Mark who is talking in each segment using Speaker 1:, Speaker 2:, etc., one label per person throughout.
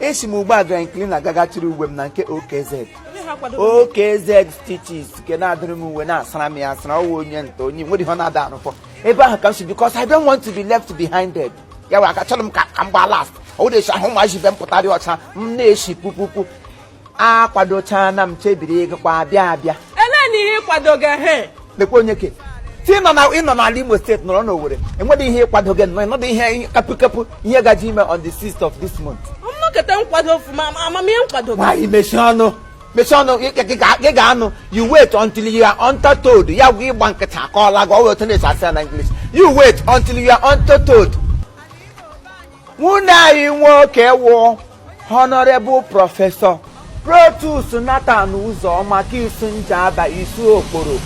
Speaker 1: esi m ugbu a dry cleaner gaa gachịrị uwe m na nke OKZ OKZ stitches nke na-adụrụ m uwe na-asara m ya asara ọwa onye nta onye nwere ihe ọ na-ada arụfọ ebe ahụ ka m si because I don't want to be left behind dead ya wụ aka chọrọ m ka ka m gbaa last ọ wụrụ esi ahụ ụmụazị ibe m pụtarị ọcha m na-esi pupupu akwadochaana m chebiri ịgakwa abịa abịa ele na ihe ịkwado
Speaker 2: gị he lekwa onye
Speaker 1: ke ti ịnọ na ịnọ n'ala Imo steeti nọrọ n'Owerri enweghị ihe ịkwado gị nọ ịnọdụ ihe kapụkapụ ihe gaji ime on the 6th of this month nnọkọta nkwado
Speaker 2: ọfụma amamihe nkwado nwaanyị mechie
Speaker 1: ọnụ mechie ọnụ gị ga-anụ you wait until you are untold ya gwa ịgba nkịtị akọọra gị ọwa otu na-esi asị ya na English you wait until you are untold nwanne anyị nwoke wụ honorable professor Protus Nathan Ụzọma nke Isu Njaba Isu Okporo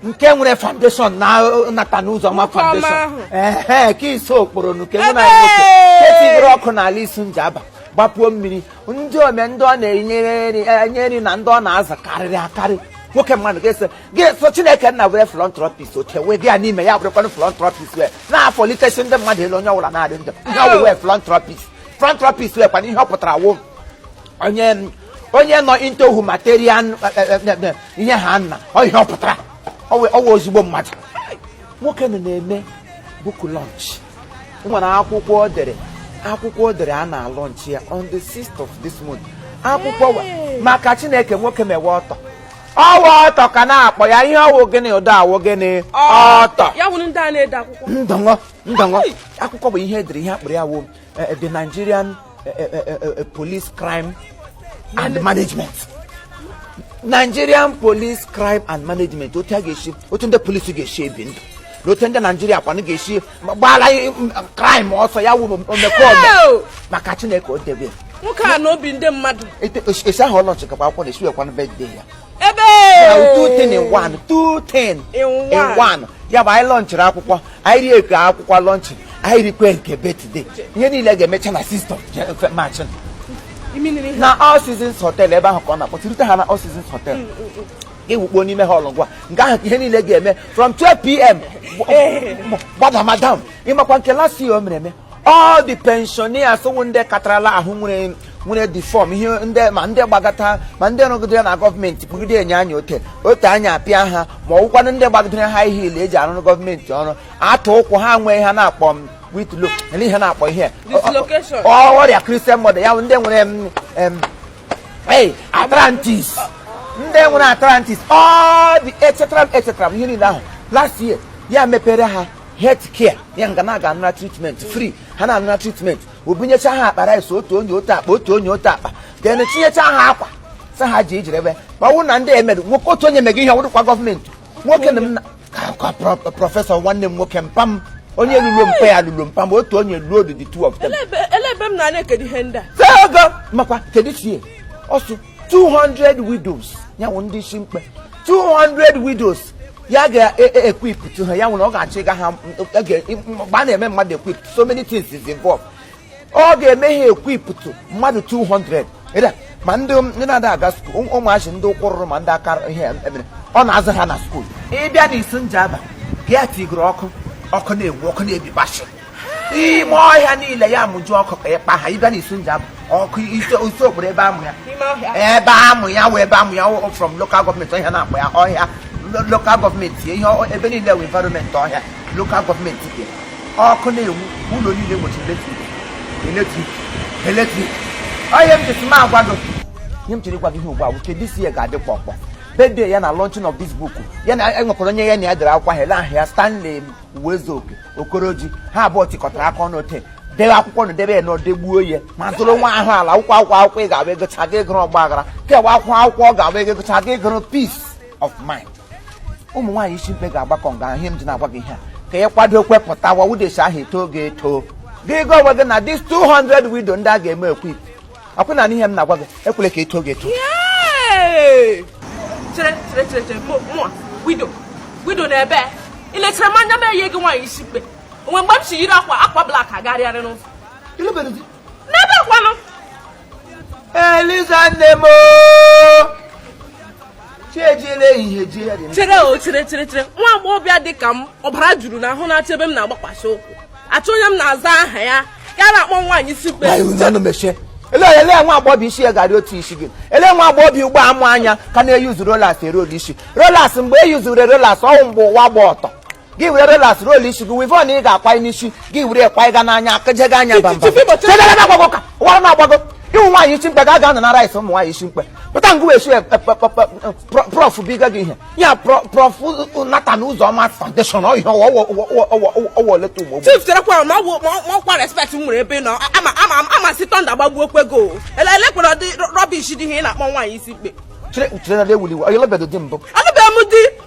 Speaker 1: nke nwere foundation na Nathan Ụzọma foundation ee nke Isu Okporo nke nwanne anyị nwoke nke tinyere ọkụ n'ala Isu Njaba gbapuo mmiri ndị ome ndị ọ na-enye nri na ndị ọ na-aza karịrị akarị nwoke mmadụ ga-ese gị so Chineke nna were philanthropist oche wee dị ya n'ime ya bụrụkwanụ philanthropist wee na-apalitesi ndị mmadụ elu onye ọbụla na-adị ndụ ihe ọ wụwe philanthropist philanthropist wee kwana ihe ọ pụtara wụ onye onye nọ into humanitarian ihe ha nna ọ ihe ọ pụtara ọ wụ- ọ wụ ezigbo mmadụ nwoke nọ na-eme book launch o nwere akwụkwọ o dere akwụkwọ o dere a na-alọnchi ya on the 6th of this month akwụkwọ wa- maka Chineke nwoke mewe author ọwa author ka a na-akpọ ya ihe ọwụ gịnị ụdọ awụ gịnị author ya wụ ndị a
Speaker 2: na-ede akwụkwọ ndọngọ ndọngọ
Speaker 1: akwụkwọ bụ ihe o dere ihe a kpọrọ ya wụ eh, eh, the Nigerian eh, police crime and management Nigerian police crime and management otu a ga-esi otu ndị polisi ga-esi ebi ndụ na otu ndị Naijiria kwanụ ga-esi gbara crime ọsọ ya wụ omekome maka Chineke o debe nwoke a n'obi
Speaker 2: ndị mmadụ esi ahụ ọ
Speaker 1: lọnchị gaba akwụkwọ na-esi wụkwanụ birthday ya ebe two things in
Speaker 2: one two
Speaker 1: things in one ya bụ anyị lọnchịrị akwụkwọ anyị rie nke akwụkwọ lọnchị anyị rikwe nke birthday ihe niile ga-emecha na 6th of March na All Seasons Hotel ebe ahụ ka ọ na-akpọtụrute ha na All Seasons Hotel mm, mm, mm. ga-ewukpo n'ime hall ọgwa nke ahụ ka ihe niile ga-eme from 12 pm gbada madam ịmakwa nke last year o mere eme all the pensioners wụ ndị katarala ahụ nwere nwere deform ihe ndị ma ndị gbagata ma ndị rụgidere na gọọmenti kpugide enyo anya ote ote anya apịa ha ma ọ wụkwanụ ndị gbagidere high heel eji arụrụ gọọmenti ọrụ atụ ụkwụ ha nwee ihe a na-akpọ m whitlow ihe na-akpọ ihe Dislocation. ọ- ọ- ọrịa Christian mother ya bụ ndị nwere em, em, Hey, arthritis. Ndị nwere arthritis. All the etc. etc. Ihe niile ahụ. Last year, ya mepere ha health care. Ya nga na-aga anụra treatment free. Ha na-anụra treatment. O bunyecha ha akpa rice otu onye otu akpa otu onye otu akpa. Then tinyecha ha akwa. Sa ha ji ijirebe. Ma ọ wụrụ na ndị emerụ nwoke otu onye mega ihe ọ wụrụkwa government. nwoke na m na akwa pro- professor nwanne m nwoke mpa m onye lụrụ mpa ya lụrụ mpa m otu onye lụrụ the two of them ele ebe m na-ana ekedo
Speaker 2: ihe ndị a Tee ego makwa
Speaker 1: kedu chie ọsụ 200 widows ya wụ ndị isi mkpe 200 widows ya ga-equip ha ya wụ na ọ ga-achịga ha ebe a na-eme mmadụ equip so many things is involved ọ ga-eme ha equip mmadụ 200 ma ndị na-ada aga school ụmụazị ndị ụkwụ rụrụ ma ndị aka ihe emere ọ na-azụ ha na school ị bịa na Isu Njaba ya tigoro ọkụ ọkụ na-enwu ọkụ na-ebi bashi ime ọhịa niile ya mụju ọkụ ka ịkpa ha ị bịa na Isu Njaba ọkụ isi okporo ebe amụ ya ebe amụ ya wee ebe amụ ya from local government ọhịa na-akpọ ya ọhịa local government ihe ebe niile wụ environment ọhịa local government bịa ọkụ na-enwu ụlọ niile nwechiri electric electric electric onye m jesi m agwa gị ihe m chere ịgwa gị ihe ugbu a bụ kedu isi ya ga-adị kpọkpọ birthday ya na launching of this book ya na e nwekwara onye ya na ya dere akwụkwọ ahụ ele ahụ ya Stanley Uwezuoke Okoroji ha abụọ tikọtara aka ọnụ ote debe akwụkwọ na debe ya na o degbuo ya ma zụrụ nwa ahụ ala akwụkwọ akwụkwọ akwụkwọ ị ga-abụ egocha gị ịgụrụ ọgba aghara kewa akwụkwọ akwụkwọ ọ ga-abụ ego egocha gị ịgụrụ peace of mind ụmụ nwaanyị isi mkpe ga-agbakọ nga ihe m ji na-agwa gị ihe a ka ị kwado kwepụtawa widows ahụ eto oge eto gị gwa onwe gị na this 200 widow ndị a ga-eme equip akwụ na ihe m na-agwa gị ekwele ka eto oge eto chere
Speaker 2: chere chere chere mụọ widow widow na ebe i lechere m anya m eyie gị nwaanyị isi mkpe o nwe mgbe m si yiri akwa akwa black agagharịarị n'ụzọ n'ebe kwanụ
Speaker 1: Eliza nne m chi ejiela
Speaker 2: ehihie jie ya dị m. chere o chere chere chere nwa agbọghọbịa dị ka m ọbara juru na ahụ na-achọ ebe m na-agbakwasị ụkwụ achọ onye m na-aza aha ya ya na-akpọ nwaanyị isi mkpe Anyị unu ọnụ mechie.
Speaker 1: Ele ele nwa agbọghọ isi ya gara otu isi gị. Ele nwa agbọghọ ugbo a ma anya ka na-e-use rollers e-roll isi. Rollers mgbe e use-re rollers ọ wụ mgbe ụwa gba ọtọ. gị were rollers roll isi gị weavon ị ga-akwanye n'isi gị were ekwanyega n'anya akajega anya bamba agbago ka ụwa na-agbago ị wụ nwaanyị isi mkpe ga aga na rice ụmụ nwaanyị isi mkpe pụta ngụ esi prof biga gị ihe ya Prof Nathan Uzoma Foundation ọhịa ọwa oleta ugbo chief cherekwara
Speaker 2: ma ọkwa respect m nwere ebe nọ ama sị thunder gbagbuo kwego elekwere ụdị rubbish dị ihe ị na-akpọ nwaanyị isi mkpe chere na ewuliwe
Speaker 1: onye lụbedo di mbụ alụbeghị m di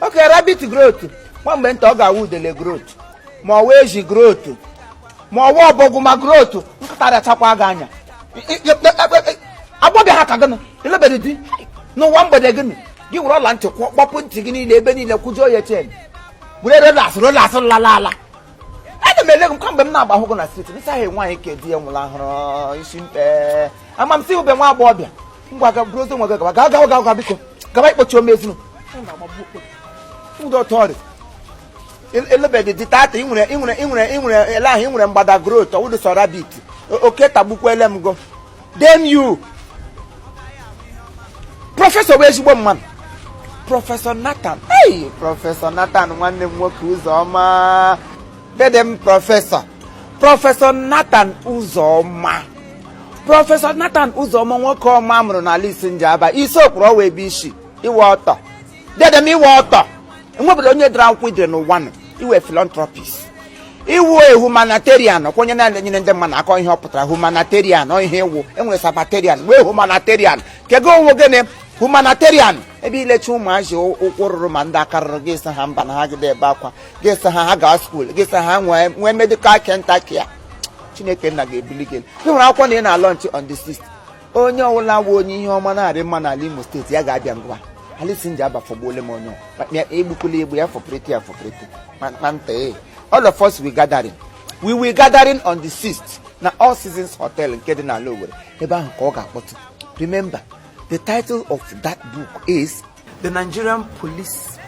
Speaker 1: oke ah! rabbit growth nwa mgbe nta ọ ga-awụ udele growth ma ọ wụ ezi growth ma ọ wụ ọbọgwụ ma growth nkịta rachakwa gị anya agbọghọbịa ha ka gịnị alụbedị di n'ụwa mgbede gịnị gị were ọla ntị kpọpuo ntị gị niile ebe niile kwujuo ya chain were rollers rollers lala ala ana m ele gị kamgbe m na-agba ahụ gị na street nsaghị nwaanyị ka di ya nwụrụ ahụrụ isi mkpe ama m si ube nwa agbọghọbịa ngwa ga buru ozi nwa gị gaba gaa gawa gawa ga biko gaba ịkpọchi ome ezinu ụdọtọrị alụbedị di tata ị nwere ị nwere ị nwere ị nwere ele ahụ ị nwere mgbada growth ọ wụdụ sọ rabbit O- oke tagbukwele m go damn you prọfesọ wụ ezigbo mmadụ prọfesọ Nathan ei prọfesọ Nathan nwanne m nwoke Uzoma dede m prọfesọ prọfesọ Nathan Uzoma prọfesọ Nathan Uzoma nwoke ọma mụrụ n'ala Isu Njaba Isuokporo ọ wụ ebe i si ị wụ author dede m ị wụ author enwebụla onye dere akwụkwọ i dere n'ụwa nụ ị wụ philanthropist ị wụ e humanitarian kwa onye na-enyere ndị mmadụ aka ọ ihe ọ pụtara humanitarian ọ ihe ị wụ e nwere Sabbatarian nwee humanitarian nke gị ọ wụ gịnị humanitarian ebe i lechaa ụmụazị ụkwụ rụrụ ma ndị aka rụrụ gị sị ha mba na ha gide ebe akwa gị sị ha ha gaa skuul gị sị ha nwee nwee medical kenta care Chineke Nna ga-ebuli gị elu. gị nwere akwụkwọ na ị na-alaunch on the 6th onye ọbụla wụ onye ihe ọma na-arị mma n'ala Imo State ya ga-abịa ngwa ala Isu Njaba fọgbuole m onye ọbụla. egbukwula egbu ya fọprịtị ya fọprịtị ma- ma nta ee all of us we gathering we will gathering on the 6th na All Seasons Hotel nke dị n'ala Owere ebe ahụ ka ọ ga-akpọtụ remember the title of that book is the Nigerian police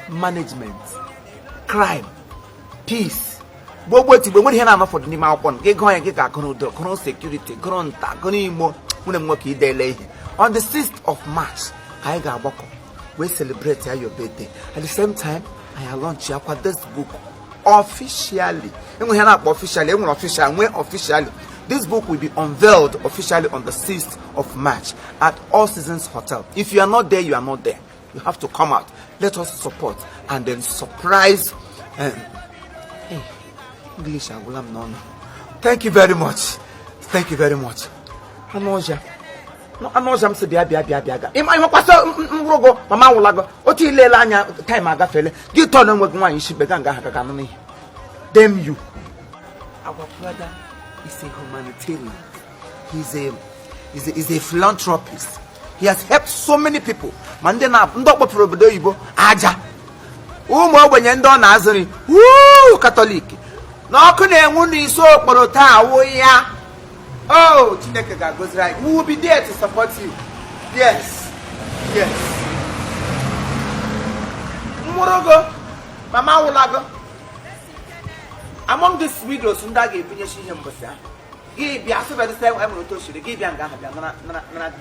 Speaker 1: management crime peace gbogbo tigbuo nwere ihe na-anọ fọdụ n'ime akwụkwọ gị gụọ ya gị ga-agụrụ udo gụrụ security gụrụ nta gụrụ imo nwanne m nwoke i deele ihe on the 6th of March ka anyị ga-agbakọ wee celebrate ya your birthday at the same time anyị launch yakwa this book officially enweghị ya na-akpọ officially enwere official nwee officially this book will be unveiled officially on the 6th of march at all seasons hotel if you are not there you are not there you have to come out let us support and then surprise um, hey, eh, english agwụla m n'ọnụ thank you very much thank you very much anụ ọja anụ ọzọ m si bịa bịa bịa bịa ga ịma ịmakwasị nworogo mama awụlago otu i lele anya time agafele gị tọọ na enweghị nwaanyị isi mkpe ga nga agaga anụ n'ihi damn you our brother is a humanitarian he's a is a, is a philanthropist he has helped so many people ma ndị na ndị ọ kpọpụrụ obodo oyibo aja ụmụ ogbenye ndị ọ na-azụ nri wuu Catholic na ọkụ na-enwu n'Isuokporo taa wụ ya Oh, Chineke ga-agọziri anyị. We will be there to support you. Yes. Yes. Nworogo, mama awụlago. Among these widows ndị a ga-ebunyesi ihe mbọsị ahụ. Gị bịa sịbedị sị e nwere otu o siri gị bịa nga ahụ bịa nara nara nara